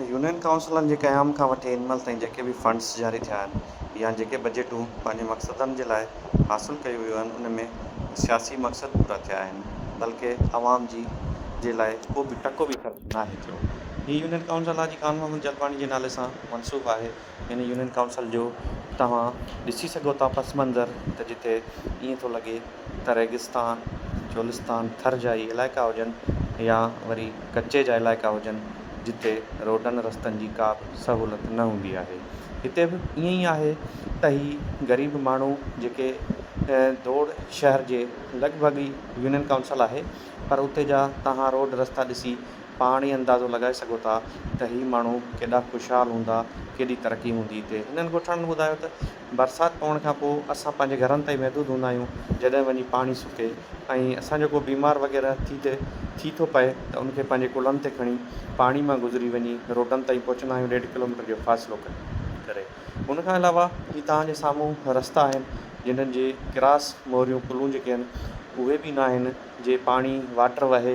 Union ڪائونسلن جي قيام کان وٺي هن مهل تائين جيڪي به فنڊز جاري ٿيا آهن يا جيڪي بجيٽون پنهنجي مقصدن جي لاء حاصل ڪيون ويون آهن ان ۾ سياسي مقصد پورا ٿيا آهن بلڪه عوام جي جي لاء ڪو به ٽڪو به خرچ ناهي ٿيو. هي يونين ڪائونسل آء جي خان محمد جلباڻي جي نالي سان منسوب آهي هن يونين ڪائونسل جو توهان ڏسي سگهو ٿا پس منظر ته جتي ائين ٿو لڳي ته ريگستان، چولستان، ٿر جا ئي علائقا هجن يا وري ڪچي جا علائقا هجن جتي روڊن رستن جي ڪا به سهولت نه هوندي آهي. هتي به ائين ئي آهي ته هي غريب ماڻهو جيڪي ڌوڙ شهر جي لڳ ڀڳ ئي يونين ڪائونسل آهي پر اتي جا توهان روڊ رستا ڏسي پاڻ ئي اندازو لڳائي سگهو ٿا ته هي ماڻهو ڪيڏا خوشحال هوندا، ڪيڏي ترقي هوندي هتي. هنن ڳوٺاڻن ٻڌايو ته برسات پوڻ کان پوء اسان پنهنجي گهرن تائين محدود هوندا آهيون، جڏهن وڃي پاڻي سڪي ۽ اسان جو ڪو بيمار وغيره ٿي تي ٿي ٿو پئي ته ان کي پنهنجي ڪلهن تي کڻي پاڻي مان گذري وڃي روڊن تائين پهچندا آهيون ڏيڍ ڪلوميٽر جو فاصلو ڪري. ان کان علاوه هي توهان جي سامهون رستا آهن جنهن جي ڪراس موريون ڪلهون جيڪي آهن اهي به نه آهن جي پاڻي واٽر وهي.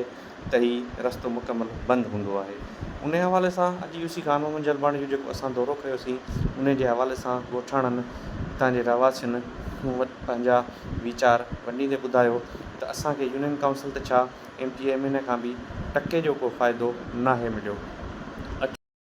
ته هي رستو مڪمل بند هوندو آهي. انهيء حوالي سان اڄ يوسي خان محمد جلباڻي جو جيڪو اسان دورو ڪيوسين، انهيء جي حوالي سان ڳوٺاڻن، اتان جي رهواسين مون وٽ پنهنجا ويچار ونڊيندي ٻڌايو ته اسان کي يونين ڪائونسل ته ڇا، ايم ٽي ايم اين کان به ٽڪي جو ڪو فائدو ناهي مليو. اٺ.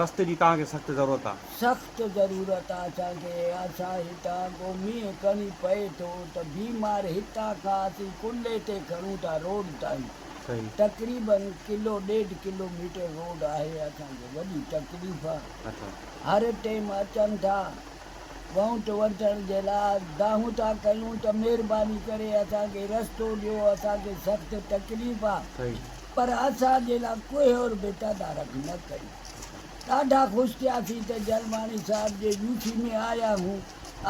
رستي جي توهان کي سخت ضرورت آ. سخت ضرورت آ اسان کي. اسان هتان ڪو مينهن ڪڻي پئي ٿو ته بيمار هتان کان اسين ڪلهي تي کڻون ٿا روڊ تائين. تقريباً ڪلو ڏيڍ ڪلو ميٽر روڊ آهي اسان کي وڏي تڪليف آ. هر ٽيم اچن ٿا وونٽ وٺڻ جي لاء دانهون ٿا ڪيون ته مهرباني ڪري اسان کي رستو ڏيو اسان کي سخت تڪليف آ. پر اسان جي لا ڪوهي اور بيٽا دارک نه ڪئي. ڏاڍا خوش ٿياسين ته جلماڻي صاحب جي يوسي ۾ آيا هون.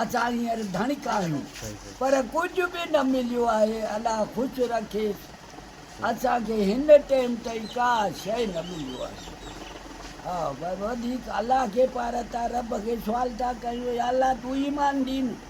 اسان هينئر ڌڻڪ آهيون. پر ڪجهه به نه مليو آهي. الله خوش رکيس. اسان کي هن ٽيم تائين ڪا شيء نه مليو آهي. ها وڌيڪ الله کي پارتا رب کي سوال ٿا ڪيون يا الله تون ايمان ڏين.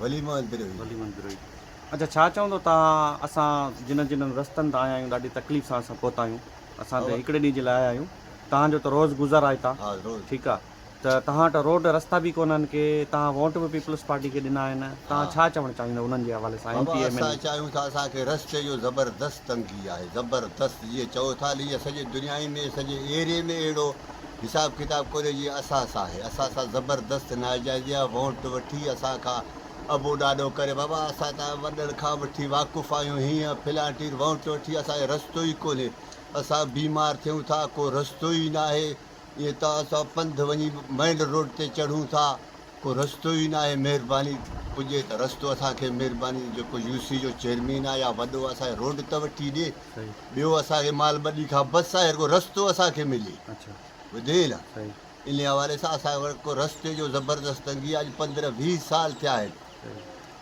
ولي محمد بروهي. ولي محمد بروهي اچا ڇا چوندو ته اسان جنھن جنھن رستن تان آيا آھيون ڏاڍي تڪليف سان اسان پھتا آھيون اسان ته ھڪڙي ڏينھن جي لاء آيا آھيون تھان جو ته روز گذر آھي ته ٺيڪ آھي ته تھان وٽ روڊ رستا به ڪونھن ڪي تھان ووٽ به پيپلز پارٽي کي ڏنا آھن تھان ڇا چوڻ چاھيندؤ انھن جي حوالي سان M P M N A اسان چاھيون ٿا اسان کي رستي جو زبردست تنگي آھي زبردست جيئن چئو ٿا لي سڄي دنيا ۾ سڄي ايري ۾ اھڙو حساب ڪتاب ڪوري جي اساس آهي اسان سان زبردست ناجائزيا وونٽ وٺي اسان کان ابو ڏاڏو ڪري بابا اسان ته وڏن کان وٺي واقف آهيون هيئن فلانٽير وونٽ وٺي اسان کي رستو ئي ڪونهي اسان بيمار ٿيون ٿا ڪو رستو ئي ناهي ائين ته اسان پنڌ وڃي مئن روڊ تي چڙهون ٿا ڪو رستو ئي ناهي مهرباني پڄي ته رستو اسان کي مهرباني جيڪو يو سي جو چيئرمين آ يا وڏو آ سائين روڊ ته وٺي ڏي ٻيو اسان کي مال ٻڏي کان بس سائين رڳو رستو اسان کي ملي ٻڌين نه ان حوالي سان اسان وٽ ڪو رستي جو زبردست تنگي آ اڄ پندرهن ويهه سال ٿيا آهن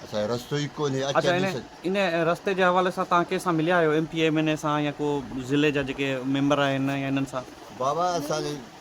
اسان کي رستو ئي ڪونهي اچ اچ ان رستي جي حوالي سان تهان ڪنهن سان مليا آهيو M P M N A سان يا ڪو ضلعي جا جيڪي ميمبر آهن يا انهن سان بابا اسان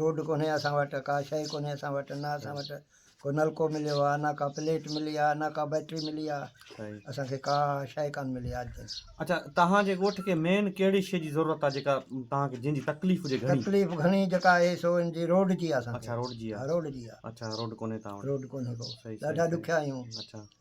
روڊ ڪونهي اسان وٽ ڪا شيء ڪونهي اسان وٽ نه اسان وٽ ڪو نلڪو مليو آهي نه ڪا پليٽ ملي آهي نه ڪا بيٽري ملي آهي اسان کي ڪا شيء ڪانه ملي آهي اڄ تائين اڇا توهان جي ڳوٺ کي مين ڪهڙي شيء جي ضرورت آهي جيڪا توهان کي جنهن جي تڪليف هجي گهڻي تڪليف گهڻي جيڪا آهي سو ان جي روڊ جي آهي اسان کي اڇا روڊ جي آهي روڊ جي آهي اڇا روڊ ڪونهي توهان وٽ روڊ ڪونهي ڪو ڏاڍا ڏکيا آهيون اڇا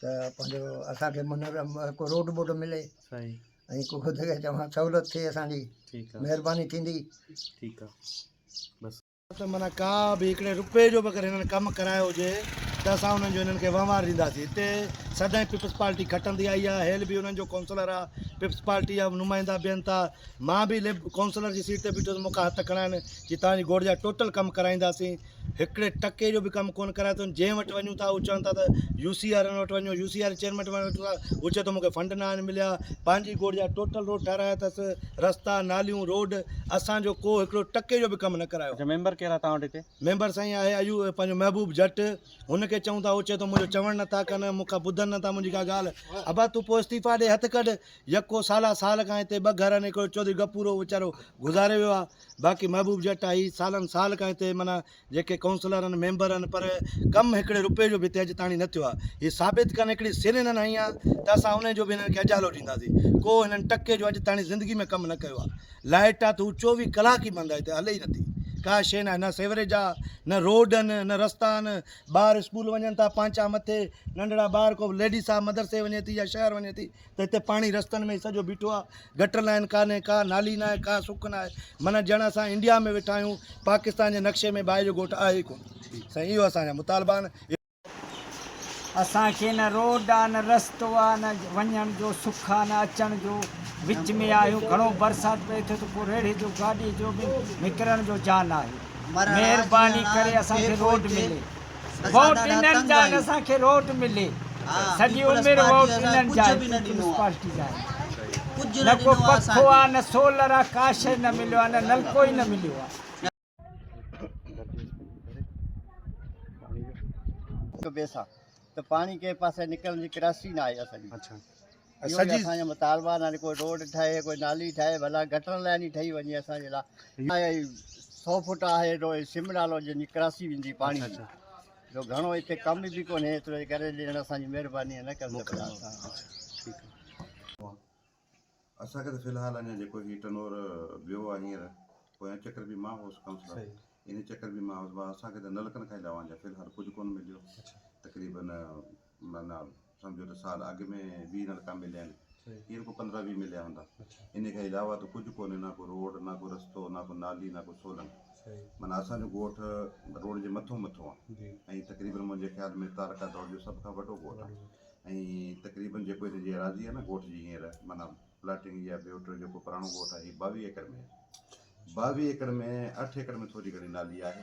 ته پنهنجو اسان کي منهن ۾ ڪو روڊ ٻوڊ ملي سائين ۽ ڪو خود کي چوان سهولت ٿئي اسان جي ٺيڪ آ مهرباني ٿيندي ٺيڪ آ بس ته معنيٰ ڪا به هڪڙي روپئي جو به اگر هنن ڪم ڪرايو هجي ته اسان انهن جو هنن کي وهنوار ڏينداسين هتي سدائين پيپلز پارٽي کٽندي آئي آ هيل به انهن جو ڪونسلر آ پيپلز پارٽي جا نمائندا بيهن ٿا مان به ليب ڪونسلر جي سيٽ تي بيٺو هوس مون کان هٿ کڻاين چي توهان جي گوڙ جا ٽوٽل ڪم ڪرائينداسين هڪڙي ٽڪي جو به ڪم ڪونه ڪرايو اٿن، جنهن وٽ وڃون ٿا هو چون ٿا ته يو سي وارن وٽ وڃو، يو سي واري چيئرمين وٽ وڃون ٿا هو چئي ٿو مون کي فنڊ ناهن مليا، پنهنجي گوڙ جا ٽوٽل روڊ ٺهرايا اٿس، رستا، ناليون، روڊ، اسان جو ڪو هڪڙو ٽڪي جو به ڪم نه ڪرايو. اچا ميمبر ڪير آهي تهان وٽ هتي؟ ميمبر سائين آهي ايو پنهنجو محبوب جٽ، هن کي چئون ٿا هو چئي ٿو منهنجو چوڻ نه ٿا ڪن، مون کان ٻڌن نه ٿا منهنجي ڪا ڳالهه، ابا تون پوء استعيفا ڏي هٿ ڪڍ، يڪو سالا سال کان هتي ٻه گهر آهن هڪڙو چوڌري غفور هو ويچارو گذاري ويو آهي، باقي محبوب جٽ آهي سالن سال کان هتي معنيٰ جيڪي ڪونسلر آهن ميمبر آهن پر ڪم هڪڙي رپئي جو به هتي اڄ تاڻي نه ٿيو آهي هي ثابت ڪن هڪڙي سر هنن هنئي آهي ته اسان انهي جو به هنن کي اجالو ڏينداسين ڪو هنن ٽڪي جو اڄ تاڻي زندگي ۾ ڪم نه ڪيو آهي لائٽ آهي ته هو چوويهه ڪلاڪ ئي بند آهي هتي هلي ئي نٿي ڪا شيء ناهي نه سيوريج آهي نه روڊ آهن نه رستا آهن ٻار اسڪول وڃن ٿا پانچا مٿي ننڍڙا ٻار ڪو ليڊيس آهي مدرسي وڃي ٿي يا شهر وڃي ٿي ته هتي پاڻي رستن ۾ سڄو بيٺو آ گٽر لائين ڪانهي ڪا نالي ناهي ڪا سڪ ناهي من ڄڻ اسان انڊيا ۾ ويٺا آهيون پاڪستان جي نقشي ۾ باهه جو ڳوٺ آهي ڪون سائين اهو اسان جا مطالبا آهن اسان کي نه روڊ آ نه رستو آ نه وڃڻ جو سک آ نه اچڻ جو وچ ۾ آهيون گهڻو برسات پئي ٿو ته پو ريڙهي جو گاڏي جو به نڪرڻ جو جا ناهي مهرباني ڪري اسان کي روڊ ملي ووٽ انهن جا آهن اسان کي روٽ ملي سڄي عمر ووٽ انهن جا آهن پيپلز پارٽي جا آهن نه ڪو پکو آ نه سولر آ ڪا شئي نه مليو آ نه نلڪو ئي نه مليو آ. ته پاڻي ڪنهن پاسي نڪرڻ جي ڪراسي نه آهي اسان جي اهو ئي اسان جا مطالبا آهن ڪوئي روڊ ٺهي ڪوئي نالي ٺهي ڀلا گٽر لائين ئي ٺهي وڃي اسان جي لا اهي سو فٽ آهي اهو سم نالو جنهنجي ڪراسي ويندي پاڻي جي جو گهڻو هتي ڪم به ڪونهي ايترو ڪري ڏيڻ اسان جي مهرباني نه ڪرن ته ڀلا اسان اسان کي ته فلحال اڃا جيڪو هي ٽنور ويو آهي هينئر پويان چڪر به مان هوس ڪائونسلر ان چڪر به مان هوس اسان کي ته نلڪن کان علاوه اڃا فلحال ڪجهه ڪونه مليو تقريبن معنيٰ سمجهو ته سال اڳ ۾ ويهه نلڪا مليا آهن هينئر ڪو پندرهن ويهه مليا هوندا انهي کان علاوه ته ڪجهه ڪونهي نه ڪو روڊ نه ڪو رستو نه ڪو نالي نه ڪو سولنگ معنيٰ اسان جو ڳوٺ روڊ جي مٿو مٿو آهي ۽ تقريبن منهنجي خيال ۾ تعلقه دور جو سڀ کان وڏو ڳوٺ آهي ۽ تقريبن جيڪو هتي جي ايراضي آهي نه ڳوٺ جي هينئر معنيٰ پلاٽنگ يا ٻيو ٽيو جيڪو پراڻو ڳوٺ آهي هي ٻاويهه ايڪڙ ۾ آهي ٻاويهه ايڪڙ ۾ اٺ ايڪڙ ۾ ٿوري گهڻي نالي آهي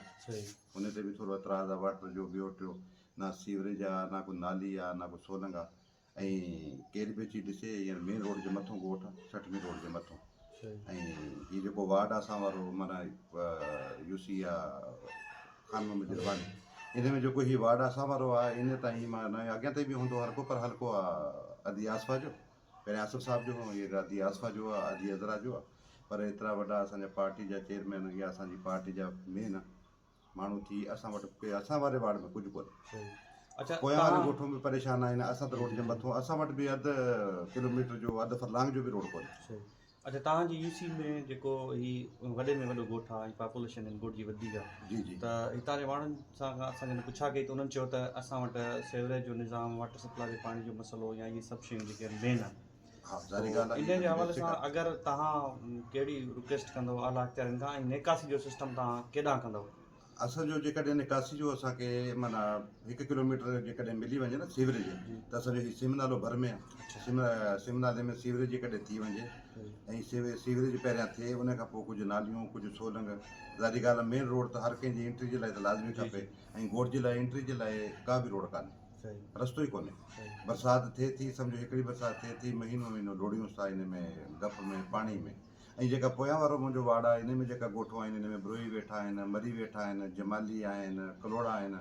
انهي تي به ٿورو اعتراض آهي واٽر جو ٻيو ٽيو نه سيوريج آ نه ڪو نالي آ نه ڪو سولنگ آ ۽ ڪير به اچي ڏسي ھينئر مين روڊ جي مٿو ڳوٺ آ سٺ مين روڊ جي مٿو ۽ ھي جيڪو وارڊ آ اسان وارو معنيٰ يو سي آ خان محمد جلواني ان ۾ جيڪو ھي وارڊ اسان وارو آ ھينئر تائين معنيٰ ناھي اڳيان تائين به ھوندو ھلڪو پر ھلڪو آ ادي آصفا جو پھرين آصف صاحب جو ھو ھينئر ادي آصفا جو آ ادي عذرا جو آ پر ايترا وڏا اسان جا پارٽي جا چيئرمين يا اسان جي پارٽي جا مين ماڻهو ٿي اسان وٽ ڪي اسان واري وارڊ ۾ ڪجهه ڪونهي پويان واريون ڳوٺون به پريشان آهن اسان ته روڊ جي مٿو اسان وٽ به اڌ ڪلوميٽر جو اڌ فرلانگ جو به روڊ ڪونهي اڇا توهان جي يو سي ۾ جيڪو هي وڏي ۾ وڏو ڳوٺ آهي ۽ پاپوليشن هن ڳوٺ جي وڌيڪ آهي جي جي ته هتان جي ماڻهن سان کان اسان جن پڇا ڪئي ته انهن چيو ته اسان وٽ سيوريج جو نظام واٽر سپلاء جي پاڻي جو مسئلو يا اهي سڀ شيون جيڪي مين آهن سو انهيء جي حوالي سان اگر توهان ڪهڙي رڪويسٽ ڪندو اعليٰ اختيارين کان ۽ نيڪاسي جو سسٽم توهان ڪيڏانهن ڪندو؟ اصل جو جيڪڏهن نڪاسي جو اسان کي معنيٰ هڪ ڪلوميٽر جيڪڏهن ملي وڃي نه سيوريج ته اسان جو هي سم نالو ڀر ۾ آهي سم نالي ۾ سيوريج جيڪڏهن ٿي وڃي ۽ سيوريج پهريان ٿئي ان کان پوء ڪجهه ناليون ڪجهه سولنگ ظاهري ڳالهه مين روڊ ته هر ڪنهن جي انٽري جي لاء ته لازمي کپي ۽ گوٺ جي لاء انٽري جي لاء ڪا به روڊ ڪانهي رستو ئي ڪونهي برسات ٿئي ٿي سمجهو هڪڙي برسات ٿئي ٿي مهينو مهينو ڊوڙيونس ٿا ان ۾ ڊپ ۾ پاڻي ۾ ۽ جيڪا پويان وارو منهنجو واڙ آهي ان ۾ جيڪا ڳوٺون آهن ان ۾ بروهي ويٺا آهن مري ويٺا آهن جمالي آهن ڪلوڙا آهن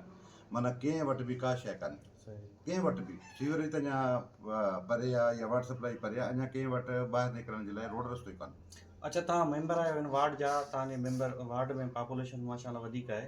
معنيٰ ڪنهن وٽ به ڪا شيء ڪانهي ڪنهن وٽ به سيوريج ته اڃا پري آهي يا واٽر سپلائي پري آهي اڃا ڪنهن وٽ ٻاهر نڪرڻ جي لاء روڊ رستو ئي ڪانهي اڇا توهان ميمبر آهيو هن وارڊ جا توهان جي ميمبر وارڊ ۾ پاپوليشن ماشاء الله وڌيڪ آهي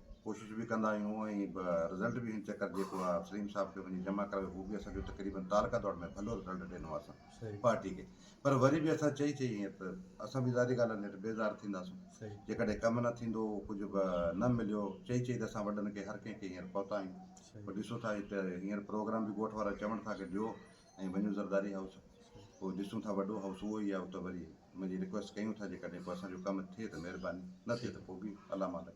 ڪوشش به ڪندا آهيون ۽ رزلٽ به چيڪر جيڪو آهي سليم صاحب کي وڃي جمع ڪرايو هو به اسان جو تقريبن تعلقه دور ۾ ڀلو رزلٽ ڏنو آهي اسان پارٽي کي پر وري به اسان چئي چئي ائين ته اسان به ظاهري ڳالهه نيٺ بيزار ٿينداسون جيڪڏهن ڪم نه ٿيندو ڪجهه به نه مليو چئي چئي ته اسان وڏن کي هر ڪنهن کي هينئر پهتا آهيون ڏسو ٿا هينئر پروگرام به ڳوٺ وارا چوڻ ٿا ڪي ڏيو ۽ وڃون زرداري هائوس پوء ڏسون ٿا وڏو هائوس اهو ئي آهي اتي وري ان جي رڪويسٽ ڪيون ٿا جيڪڏهن ڪو اسان جو ڪم ٿئي ته مهرباني نه ٿئي ته پوء به الله مالڪ.